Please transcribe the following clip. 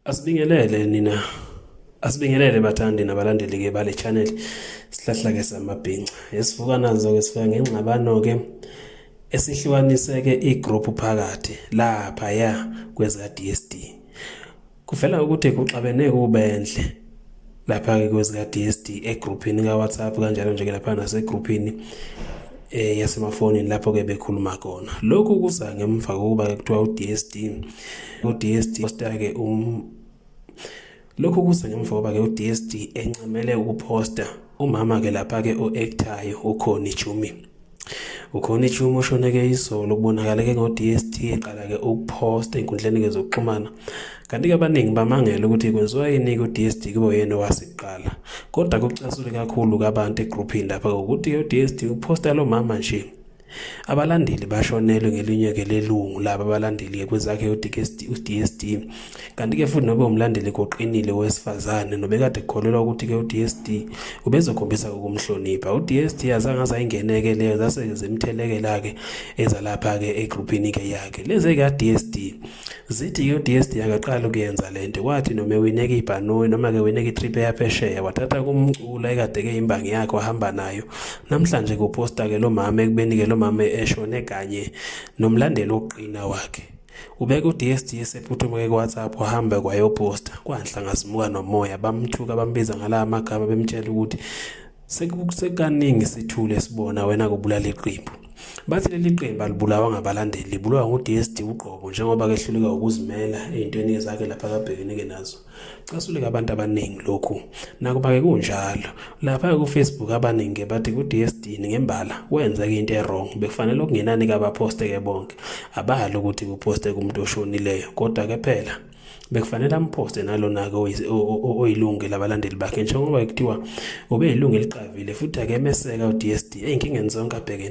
Asibingelele nina asibingelele bathandi nabalandeli ke bale channel sihlahla ke samabhinca esivuka nazo ke sifika ngengxabano ke esihlukaniseke igroup phakathi lapha ya kweza DSD kuvela ukuthi kuxabene kubenhle lapha-ke kwezika-DSD egruphini ka-WhatsApp kanjalo nje-ke lapha nasegruphini eh yasemafonini lapho ke bekhuluma khona lokhu kuza ngemva kokuba ke kuthiwa uDSD uDSD posta ke um lokhu kuza ngemva kokuba ke uDSD encamele ukuposta umama ke lapha ke oactayo ukhoni Jumi Ukhona ichumo oshoneke izolo kubonakaleke ngo-DST eqala-ke ukuposta ey'nkundleni-ke zokuxhumana kanti-ke abaningi bamangele ukuthi kwenziwa yini ku-DST kube yena owasiqala kodwa kucasule kakhulu kabantu egruphini lapha ngokuthi u-DST uposta lo mama nje abalandeli bashonelwe ngelinye-ke lelungu laba abalandeli-ke kwezakhe u-DST Kanti-ke futhi nobe umlandeli koqinile wesifazane nobekade kukholelwa ukuthi-ke u-DSD ubezokhombisa ukumhlonipha. U-DSD azange azayingeneke leyo zase zimthelekela-ke ezalapha-ke egruphini-ke yakhe. Lezi ka-DSD zithi-ke u-DSD akaqali ukuyenza le nto kwathi noma ewineka ibhanoyi noma-ke wineka itrip eyaphesheya wathatha kumcula ekade-ke imbangi yakhe wahamba nayo. Namhlanje kuposta-ke lo mama ekubeni-ke lo mama eshone kanye nomlandeli wokuqina wakhe. Ubeka uDSD esephuthume kuWhatsApp wahamba kwayoposta kwanhla ngazimuka nomoya bamthuka bambiza ngala amagama bemtshela ukuthi sekukaningi sithule sibona wena kubulala iqembu bathi leli qembu alibulawa ngabalandeli libulawa nguDSD uqobo njengoba kehluleka ukuzimela ezintweni zakhe lapha kabhekene-ke nazo Casuleka abantu abaningi lokhu. Nakuba-ke kunjalo, lapha kufacebook abaningi bathi ku-DSD ngembala kwenzeka into e-wrong bekufanele okungenani kabaposte-ke bonke. Abali ukuthi kuposte kumuntu oshonileyo kodwa-ke phela bekufanele amphoste nalona-ke oyilunge labalandeli bakhe njengoba kuthiwa ubeyilungu eliqavile futhi akemeseka u-DSD ey'nkingeni zonke abhekene